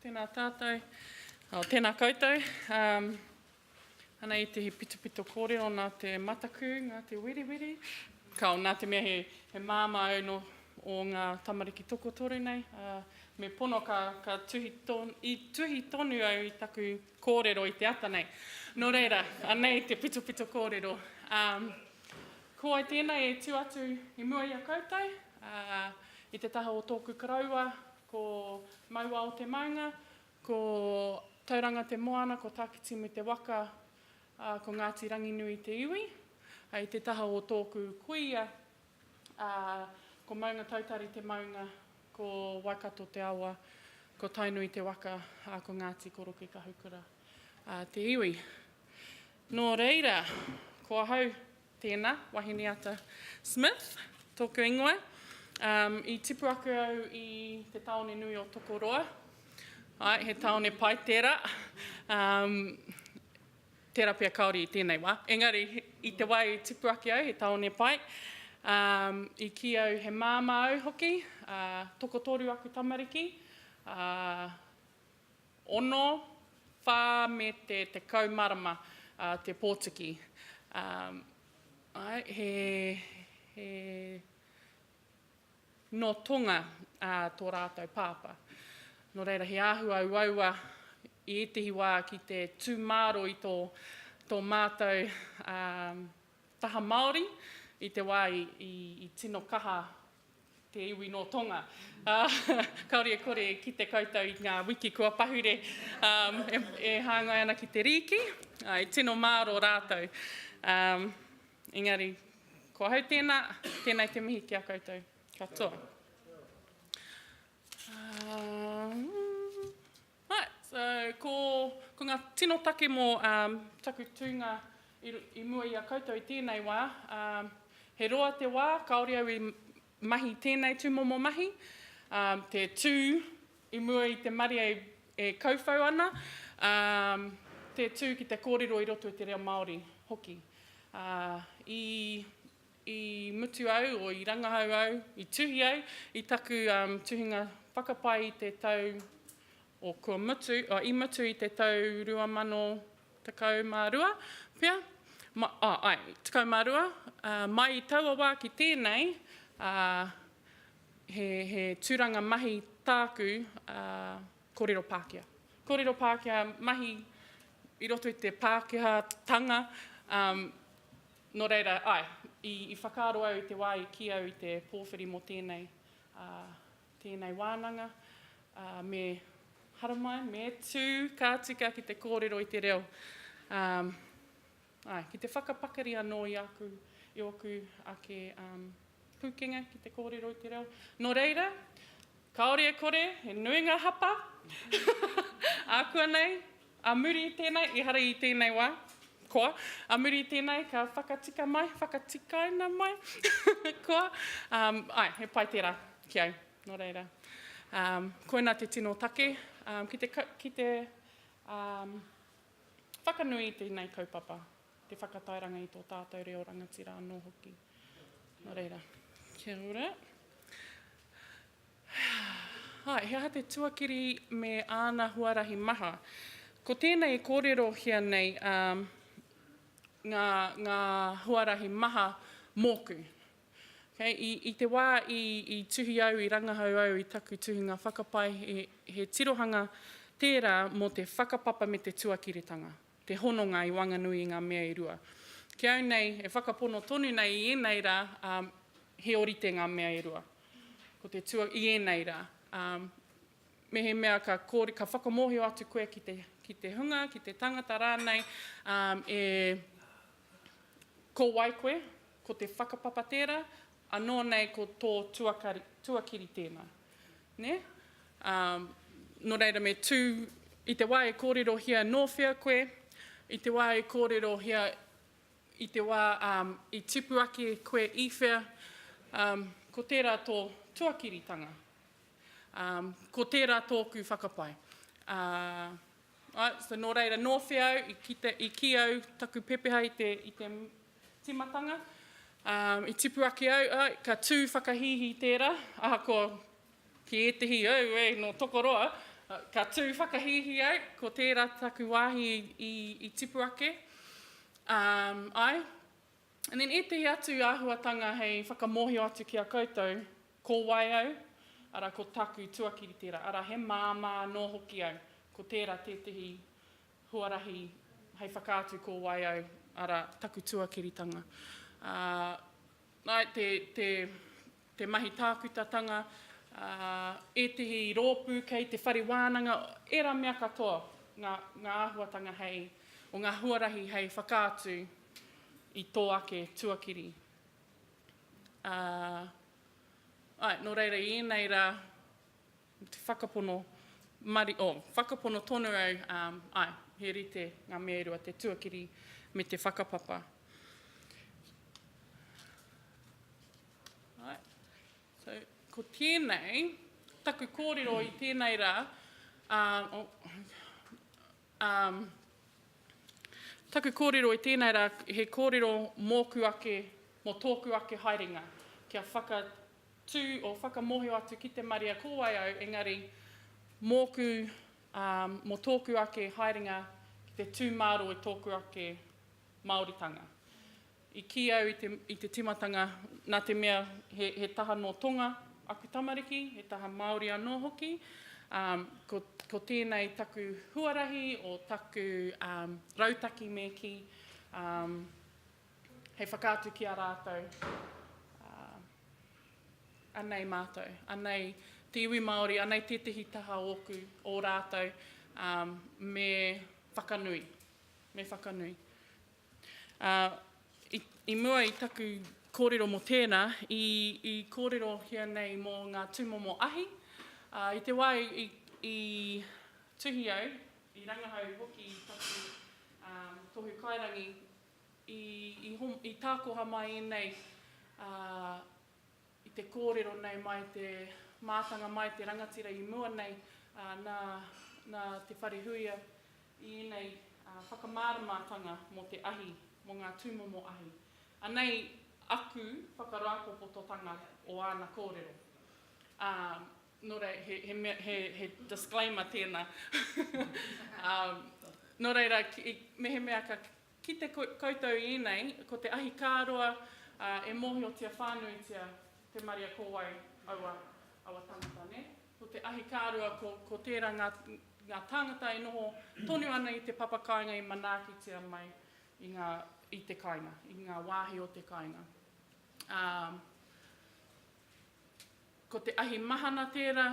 Tēnā tātou, oh, tēnā koutou. Um, ana i te pitopito kōrero nā te mataku, nā te wiriwiri. Ka o nā te mea he, he māma au no, o ngā tamariki tokotoru nei. Uh, me pono ka, ka tuhi, ton, i, tuhi tonu au i taku kōrero i te ata nei. Nō reira, anei te pitopito kōrero. Um, ko ai tēnei e tū atu i mua i a koutou, Ā, i te taha o tōku koroua, ko Mauao te maunga, ko Tauranga te moana, ko Takitimu te waka, ā, ko Ngāti Ranginui te iwi. Ā, i te taha o tōku kuia, ā, ko Maungatautari te maunga, ko Waikato te awa, ko Tainui te waka, ā, ko Ngāti Korokekahukura, ā, te iwi. Nō reira, ko ahau Tēnā, Wahineata Smith, tōku ingoa. I tipu ake au i te tāone nui o Tokoroa. Āe, he tāone pai tērā. Tērā pea kāore i tēnei wā. Engari, i te wā i tipu ake au, he tāone pai. I kī au he māmā au hoki, tokotoru aku tamariki. Ono, wha me te tekau marama te Potiki. Ae, he, he, no Tonga to ratou papa. No reira, he ahua uaua i etehi wa ki te tu maro i to, to matou taha Maori i te wa i, i, i tino kaha te iwi nō Tonga. Kāore e kore e kite koutou i ngā wiki kua pahure e hāngai ana ki te rīki. I tino māro rātou. Engari, ko ahau tēnā, tēnei te mihi ki a koutou. Katoa. Katoa. Right, so ko nga tino take mo taku tuinga i mua i a koutou i tenei wa, he roa te wa kaore au i mahi tenei tumomo mahi, te tu i mua i te marie e kauwhau ana, te tu ki te korero i roto i te reo Maori hoki. I I mutu au, or i rangahau au, i tuhi au i taku tuhinga whakapae i te tau, or kua mutu, or i mutu i te tau 2012 pea, ah ae, 12, mai i taua wa ki tenei, he, he turanga mahi taaku korero Pakeha. Korero Pakeha, mahi i roto i te Pakeha tanga, Nō reira, āe, i whakaaro au i te wā i kī au i te pōwhiri mō tēnei, tēnei wānanga, me haramai, me tū ka tika ki te kōrero i te reo, āe, ki te whakapakari anō i aku, i ōku ake. Pūkenga ki te kōrero i te reo. Nō reira, kāore e kore, he nui ngā hapa. Ākuanei, a muri i tēnei, ehara i tēnei wā, koa, a muri i tēnei, ka whakatika mai, whakatikaina mai, koa, um, ai, he pai tērā ki au, nō reira. Um, koina te tino take, um, ki te, ki te um, whakanui i tēnei kaupapa. te whakatairanga i tō tātou reo rangatira anō hoki. Nō reira, kia ora. Hai, he aha te tuakiri me āna huarahi maha? Ko tēnei e kōrerohia nei um, ngā, ngā huarahi maha mōku. Okay, i, i te wā i, i tuhi au, i rangahau au i taku tuhinga whakapae, he, he tirohanga tērā mō te whakapapa me te tuakiritanga. te hononga i Wanganui i ngā mea e rua. Ki au nei, e whakapono tonu nei i ēnei rā, ā, he orite ngā mea e rua. Ko te tua, i ēnei rā, ā, mehemea ka kore, ka whakamōhio atu koe ki te, ki te hunga, ki te tangata rānei, ā, e, ko wai koe, Ko te whakapapa tērā, anō nei ko tō tuakari, tuakiri tēnā. Nē? Ā, nō reira me tū, i te wā e kōrerohia nō whea koe, i te wā e kōrerohia, i te wā ā, i tipu ake koe i whea, ā, ko tērā tō tuakiritanga. Ā, ko tērā tōku whakapae. Ā, So nō reira, nō te au i kite, i kī au taku pepeha i te, i te tīmatanga, um, i tipu ake au, ai, ka tū whakahīhī tērā, ahakoa ki ētehi au, e, nō Tokoroa, ka tū whakahīhī au, ko tērā taku wāhi i, i tipu ake. Um, ai, and then ētehi atu āhuatanga hei whakamōhio atu ki a koutou, Ko wai au? Arā, ko taku tuakiri tērā, arā, he māmā anō hoki au. Ko tērā tētehi huarahi hei whakaatu ko wai au, arā, taku tuakiritanga. Ā, āe, te, te, te mahi tākutatanga, ā, ētehi rōpū kei te whare wānanga, ērā mea katoa, ngā, ngā āhuatanga hei, o ngā huarahi hei whakaatu i tō ake tuakiri. Ā, āe, nō reira i ēnei rā, me te whakapono mari, oh, whakapono tonu au, um, āe, he rite ngā mea e rua, te tuakiri me te whakapapa. Āe, so, ko tēnei, taku kōrero i tēnei rā, um, oh, Um, taku kōrero i tēnei rā, he kōrero mōku ake, mō tōku ake haerenga, kia whakatū o whakamōhio atu ki te marea ko wai au, engari mōku, um, mō tōku ake haerenga ki te tū māro i tōku ake Māoritanga. I kī au i te timatanga nā te mea he taha nō Tonga aku tamariki, he taha Māori anō hoki, ko tēnei taku huarahi o taku rautaki me kī hei whakaatu ki a rātou, anei mātou, anei te iwi Māori, anei tētehi taha ōku, ō rātou, me whakanui, me whakanui. Ā, i, i mua i taku kōrero mō tēnā, i, i kōrerohia nei mō ngā tūmomo ahi, ā, i te wā i, i tuhi au, i rangahau hoki taku um, tohu kairangi, i, i, hom, i tākoha mai ēnei uh, I te kōrero nei mai te mātanga mai te rangatira i mua nei nā Te Wharehuia i ēnei whakamāramatanga mō te ahi, mō ngā tūmomo ahi. Anei aku whakarāpopototanga o āna kōrero. Ā, nō reira, he mea, he disclaimer tēnā. Nō reira, mehemea ka. Ki te koutou ienei, ko te ahi ka roa e mohiotia whanuitia te maria ko wai aua aua tangata ne? Ko te ahi ka roa ko ko tera nga nga tangata e noho tonu ana i te papa kainga i manaakitia mai i nga i te kainga, i nga wahi o te kainga. A ko te ahi mahana tera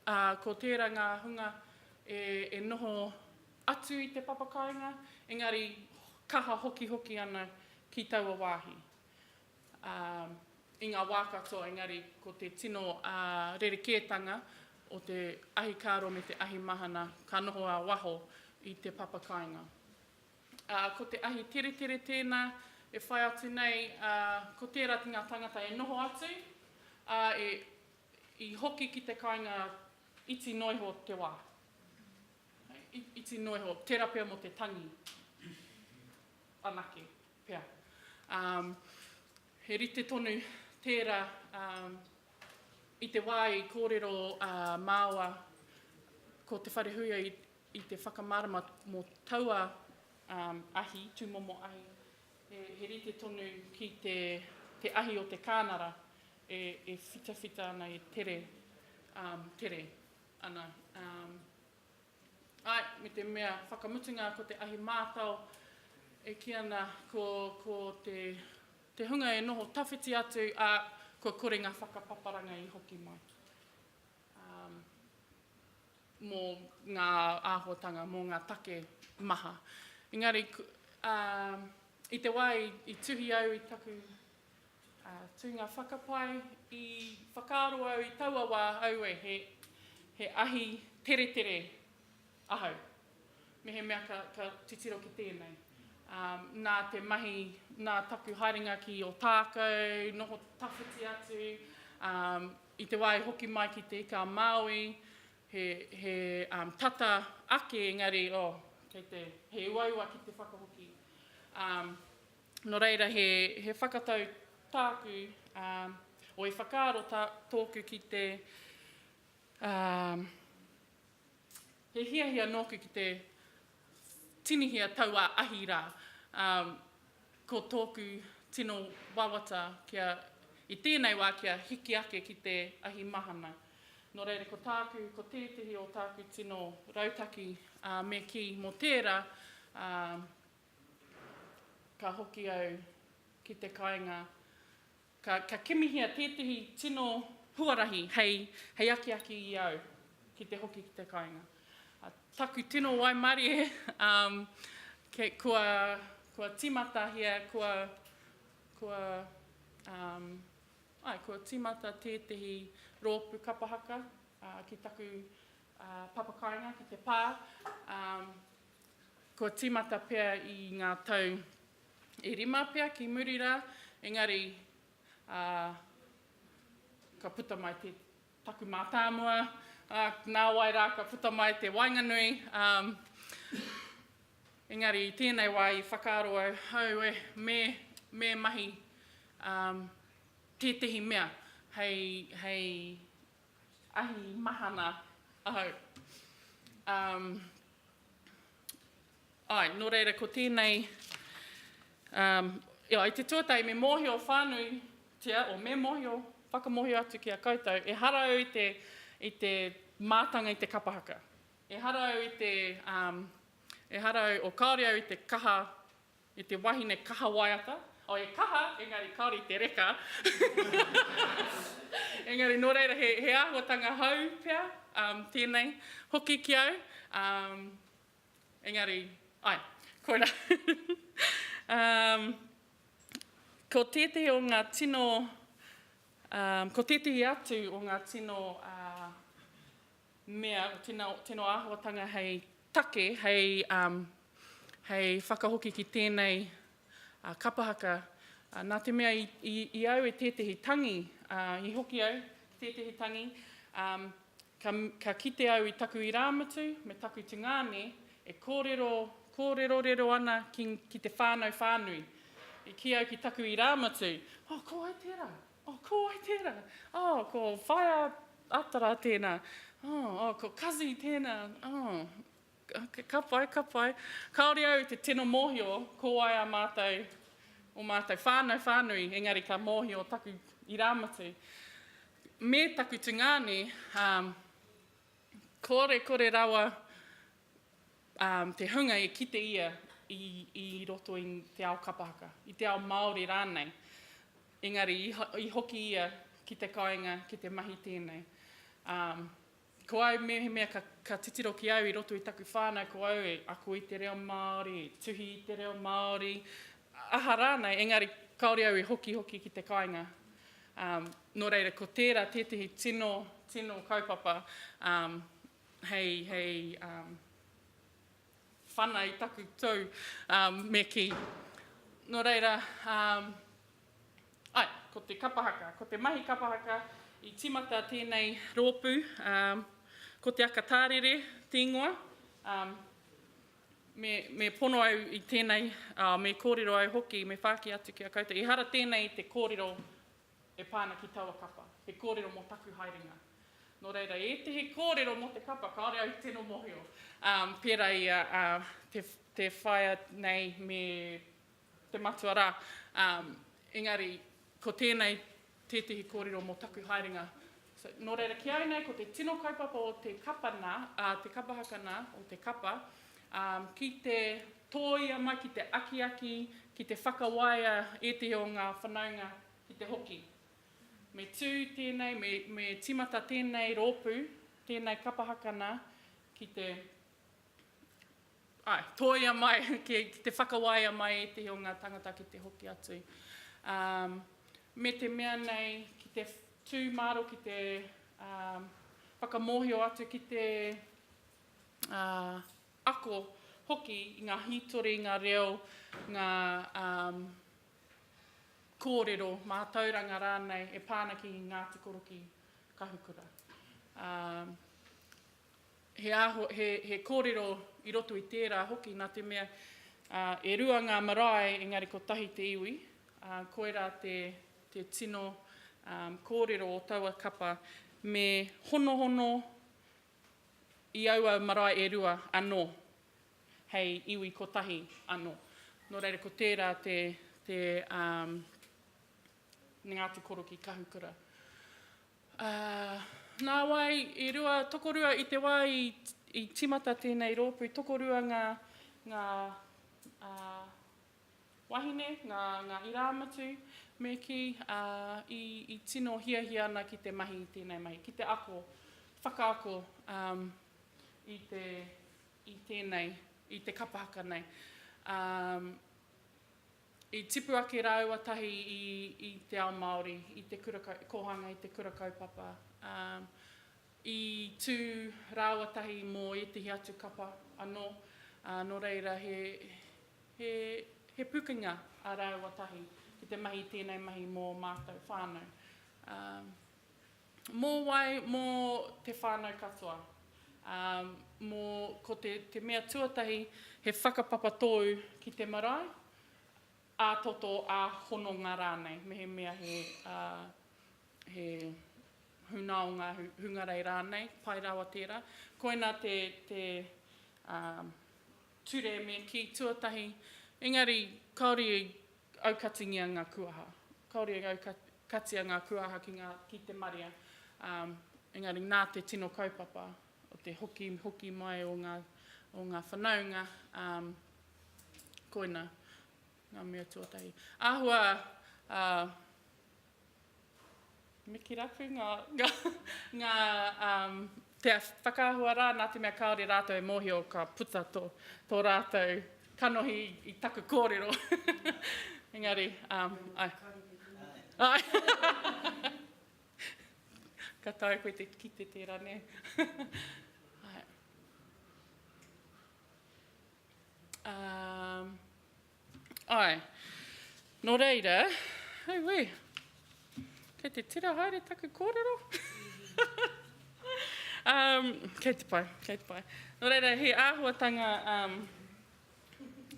a ko tera nga hunga e e noho atu i te papakāinga, engari kaha hokihoki ana ki taua wāhi, ā, i ngā wā katoa, engari ko te tino rerekētanga o te ahikāro me te ahimahana ka noho ā-waho i te papakāinga. Ā, ko te ahi teretere tēnā e whai atu nei, ā, ko tērā ki ngā tāngata e noho atu, ā, e, i hoki ki te kāinga iti noa iho te wā. Iti noa iho, tera pea mo te tangi anake pea. He rite tonu tera i te wa i korero a Maoa ko Te Wharehuia i te whakamarama mo taua ahi, tumomo ahi. He rite tonu ki te ahi o te kanara e whitawhita ana e tere, tere. ana, ā, āe, me te mea whakamutunga ko te ahi mātao e kī ana ko, ko te, te hunga e noho tawhiti atu, ā, kua kore ngā whakapaparanga i hoki mai, ā, mō ngā āhuatanga, mō ngā take maha. Engari, ā, i te wā i, i tuhi au i taku Tū ngā whakapae i whakaaro au i taua wā aue he ahi teretere ahau. Mehemea ka titiro ki tēnei. Nā te mahi, nā taku haerenga ki Ōtākou, noho tawhiti atu, i te wā i hoki mai ki Te Ika a Māui, he tata ake engari, oh, kei te, he uaua ki te whakahoki. Nō reira, he whakatau tāku, ō, i whakaaro tōku ki te, he hiahia nōku ki te tinihia taua ahi rā, ko tōku tino wawata kia, i tēnei wā kia hiki ake ki te ahi mahana. Nō reira, ko tāku, ko tētehi o tāku tino rautaki me kī mō tērā, Ka hoki au ki te kāinga, ka kimihia tētehi tino huarahi hei akiaki i au ki te hoki ki te kāinga. Taku tino waimarie, kua tīmatahia, kua tīmata tētehi rōpū kapa haka ki taku papakāinga, ki te pā. Kua tīmata pea i ngā tau e rima pea ki muri rā, engari ā, ka puta mai te, taku mātāmua, ā, nāwai rā ka puta mai te waenganui, ā, engari i tēnei wā i whakaaro au, hau e, me, me mahi ā, tētehi mea hei, hei ahi mahana ahau. Ā. Āe, nō reira ko tēnei, ā, i te tuatahi me mōhio whānuitia, o me mōhio, whakamōhio atu ki a koutou, ehara au i te, i te mātanga i te kapa haka. Ehara au i te, ā, ehara au, o kāore au i te kaha E te wahine kaha waiata. Oh, e kaha, engari kāore i te reka. Engari nō reira, he, he āhuatanga hou pea um, tēnei hoki ki au. Um, engari, ai, koirā. um, ko tētehi o ngā tino, um, ko tētehi atu o ngā tino uh, mea o tena, teno āhuatanga hei take, hei, um, hei whakahoki ki tēnei uh, kapahaka. Uh, nā te mea i, i, i au e tētehi tangi, uh, i hoki au tētehi tangi, um, ka, ka kite au i taku irāmutu me taku tungāne e kōrero, kōrerorero ana ki, ki te whānau whānui. I ki au ki taku irāmutu, oh, ko ai tērā, Oh, ko wai tērā? Oh, ko Whaea Atara tēnā. Oh, oh, ko Kazi tēnā. Oh, ka pai, ka pai. Kāore au te tino mōhio ko wai ā mātou, ō mātou whānau whānui, engari ka mōhio taku irāmutu me taku tungāne, ā, kore, kore rawa te hunga e kite ia i roto i te ao kapa haka, i te ao Māori rānei. Engari, i hoki ia ki te kāinga, ki te mahi tēnei. Ko au, mehemea ka titiro ki au i roto i taku whānau, ko au e ako i te reo Māori, e tuhi i te reo Māori, aha rānei, engari kāore au i hoki hoki ki te kāinga. Nō reira, ko tērā tētehi tino, tino kaupapa Hei, hei, um, whana i taku tou, um, me ki. No reira, um, ai, ko te kapahaka, ko te mahi kapahaka, i timata tēnei roopu, um, ko te aka tārere, tēngoa, um, me, me pono au i tēnei, uh, me kōrero au hoki, me whāki atu ki a koutou. Ehara tēnei te kōrero e pā ana ki taua kapa, he kōrero mō taku haerenga. Nō reira, ētehi kōrero mō te kapa, kāore au i tino mōhio. Pērā i a te whaea nei me te matua rā, engari ko tēnei tētehi kōrero mō taku haerenga. Nō reira, ki au nei, ko te tino kaupapa o te kapa nā, te kapa haka nā, o te kapa, ki te Tōia mai ki te akiaki, ki te whakawaia ētehi o ngā whanaunga ki te hoki. Me tū tēnei, me tīmata tēnei rōpū, tēnei kapa hakana ki te, āe, tōia mai, ki te whakawaia mai ētehi o ngā tāngata ki te hoki atu. Me te mea nei, ki te tū māro, ki te whakamōhio atu ki te ako hoki i ngā hītori, ngā reo, ngā kōrero, mātauranga rānei e pā ana ki Ngāti Korokī, Kahukura. He kōrero i roto i tērā hoki nā te mea e rua ngā marae engari kotahi te iwi, koirā te tino kōrero o taua kapa, me honohono I aua marae e rua anō, hei iwi kotahi anō. Nō reira, ko tērā te te Ngāti Korokī Kahukura. Nāwai, i rua, tokorua i te wā i tīmata tēnei rōpū, tokorua ngā ngā Wahine, ngā, ngā irāmutu, me kī, ā, i, i tino hiahia ana ki te mahi i tēnei mahi, ki te ako, whakaako, ā, i te, i tēnei, i te kapa haka nei. Ā, i tipu ake rāua tahi i, i te ao Māori, i te kura kau, kōhanga i te kura kaupapa, ā, i tū rāua tahi mō ētehi atu kapa anō, ā, nō reira he, he, he pukenga ā rāua tahi ki te mahi i tēnei mahi mō ō mātou whānau. Ā, mō wai? Mō te whānau katoa. Ā, mō, ko te, te mea tuatahi, he whakapapa tōu ki te marae, ā-toto, ā-hononga rānei, mehemea he, ā, he, Huna o ngā hungarei rānei, pai rawa tērā. Koina te ture me kī tuatahi, engari kāore i aukatingia ngā kuaha. Kāore i aukatia ngā kuaha ki te marea, engari nā te tino kaupapa o te hokihoki mai o ngā whanaunga, koina ngā mea tuatahi. Āhua Miki rapu nga nga um te whakaahua ra na te mea kaore ratou e mohio ka puta to to ratou kanohi i taku korero engari um ai ai ka taea koe te kite tera ne ai um Āe. Nō reira, auē, kei te tira haere taku kōrero. um, kei te pai, kei te pai. Nō reira, he āhuatanga um,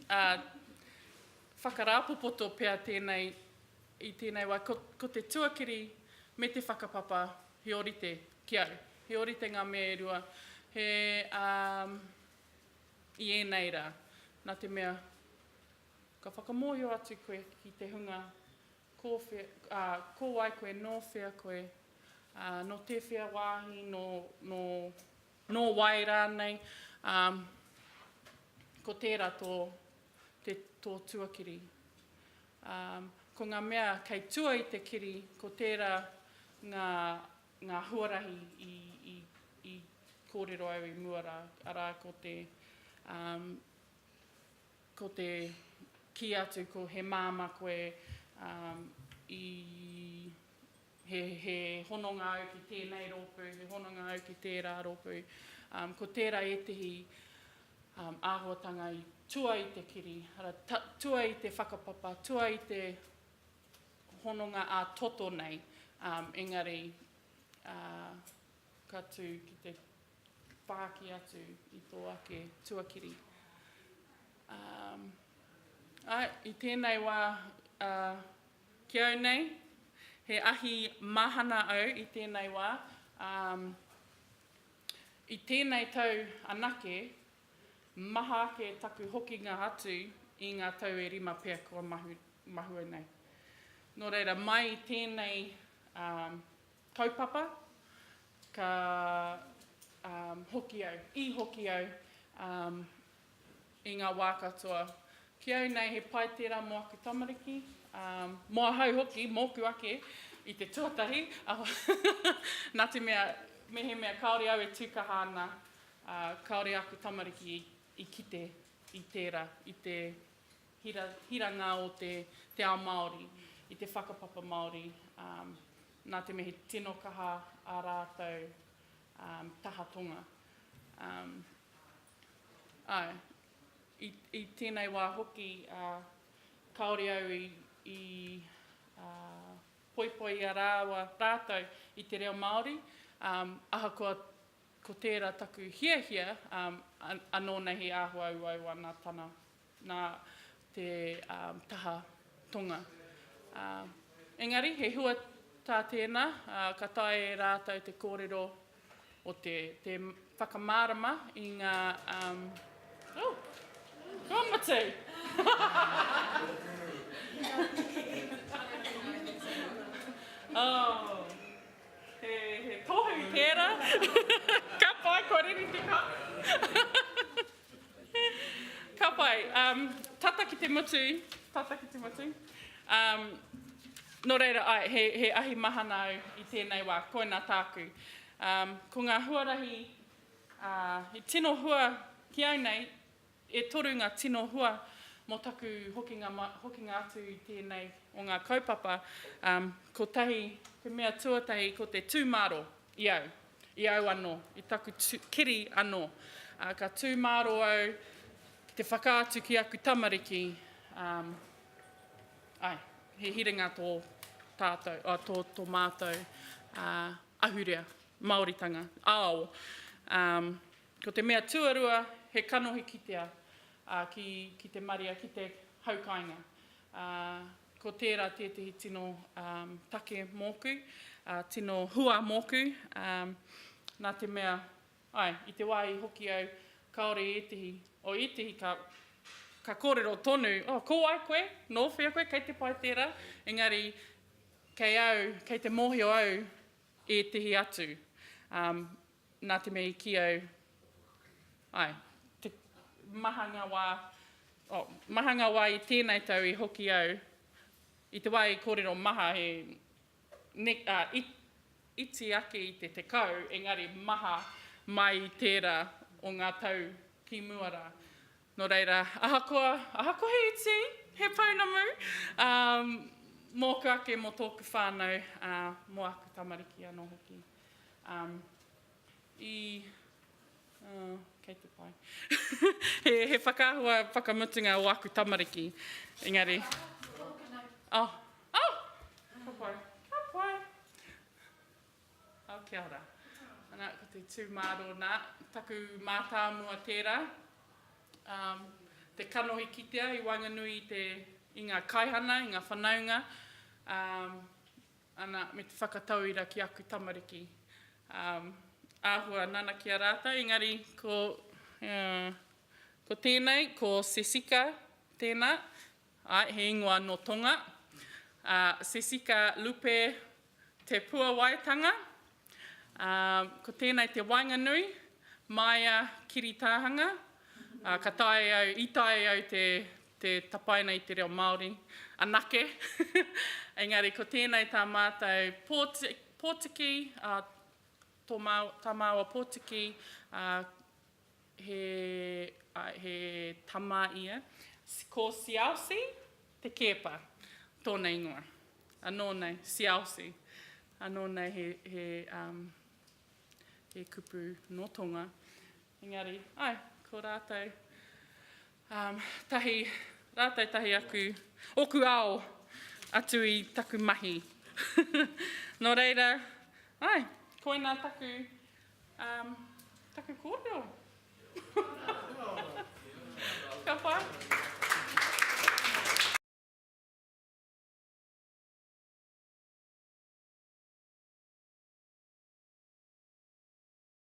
uh, whakarāpopoto pea tēnei i tēnei wā. Ko, ko te tuakiri me te whakapapa, he orite ki au. He orite ngā mea e rua. He, um, I ēnei rā, nā te mea ka whakamōhio atu koe ki te hunga ko whea, ā, ko wai koe, nō whea koe, ā, nō tēwhea wāhi, nō, nō, nō wai rānei, ā, ko tērā tō, te, tō tuakiri. Ā, ko ngā mea kei tua i te kiri, ko tērā ngā ngā huarahi i kōrero au i mua rā, arā, ko te, ko te kī atu ko he māmā koe, i, he, he hononga au ki tēnei rōpū, he hononga au ki tērā rōpū. Ko tērā ētehi āhuatanga i tua i te kiri, arā, tua i te whakapapa, tua i te hononga ā-toto nei, engari ka tū ki te whāki atu i tō ake tuakiri. Āe, i tēnei wā ki au nei, he ahi mahana au i tēnei wā, i tēnei tau anake Maha ake taku hokinga atu i ngā tau e rima pea kua mahue nei. Nō reira, mai i tēnei kaupapa, ka hoki au, i hoki au i ngā wā katoa. Ki au nei, he pai tērā mō aku tamariki, mō ahau hoki, mōku ake i te tuatahi, nā te mea, mehemea kāore au e tū kaha ana, Ā, kāore āku tamariki i kite i tērā, i te hira, hiranga o te, te ao Māori, i te whakapapa Māori, ā, nā te mea he tino kaha ā rātou, ā, taha tonga. Ā, āe, i, i tēnei wā hoki, ā, kāore au i, i, ā, poipoia rāua rātou i te reo Māori, ā, ahakoa Ko tērā taku hiahia, anō nei he āhuauau ana tana nā te taha tonga. Engari, he hua tā tēnā, ka taea e rātou te kōrero o te te whakamārama i ngā oh, ka mutu! oh. He tohu tera. Ka pai, kua riri te kahu. Ka pai, tata ki te mutu, tata ki te mutu. No reira, ae, he ahi mahana au i tenei wa, koina taku. Ko nga huarahi i tino hua ki au nei, E toru ngā tino hua mō taku hokinga hokinga atu i tēnei o ngā kaupapa, kotahi te mea tuatahi ko te tū māro i au, i au anō, i taku kiri anō. Ka tū māro au ki te whakaatu ki aku tamariki, āe, he hiringa tō tātou, tō, tō mātou ahurea, Māoritanga, ao. Ko te mea tuarua, he kanohi kitea, ā, ki, ki te marea, ki te haukāinga. Ā, ko tērā tētehi tino um, take mōku, ā, tino hua mōku, um, nā te mea, ai, i te wā i hoki au, kāore ētehi, o ētehi ka, ka kōrero tonu, oh, ko wai koe, nō whea koe, kei te pai tērā, engari, kei au, kei te mōhio au, ētehi atu. Um, Nā te mea i kī au, āe, te maha ngā wā, oh, maha ngā wā i tēnei tau i hoki au, i te wā i kōrero maha he ne, ā, i, iti ake i te tekau, engari maha mai i tērā o ngā tau ki mua rā. Nō reira, ahakoa, ahakoa he iti, he pounamu, ā, mōku ake, mō tōku whānau, ā, mō aku tamariki anō hoki. i kei te pai he whakaahua whakamutunga o aku tamariki engari oh oh ka pai ka pai oh kia ora ana ko te tū mārō nā taku mātāmua tērā te kanohi kitea i waenganui i te i ngā kaihana i ngā whanaunga Ana, me te whakatauira ki aku tamariki. Āhua nanakia rātou, engari ko, ko tēnei, ko Sesika tēnā, āe, he ingoa nō Tonga, Sesika Lupe Te Puawaitanga, Ā, ko tēnei te waenganui, māia kiri tāhanga, ā, ka taea au, i taea au te, te tapaina i te reo Māori anake. Engari ko tēnei tā mātou pōti, pōtiki, ā, tō māu, tā māua pōtiki, ā, He, āe, he tama ia. Ko Siaosi te kēpa, tōna ingoa. Anō nei, Siaosi. Anō nei he, he, um, he kupu nō Tonga. Engari, āe, ko rātou, um, tahi, rātou tahi aku, ōku ao atu i taku mahi. Nō reira, āe, koinā taku. Um, taku kōrero. Ka pai?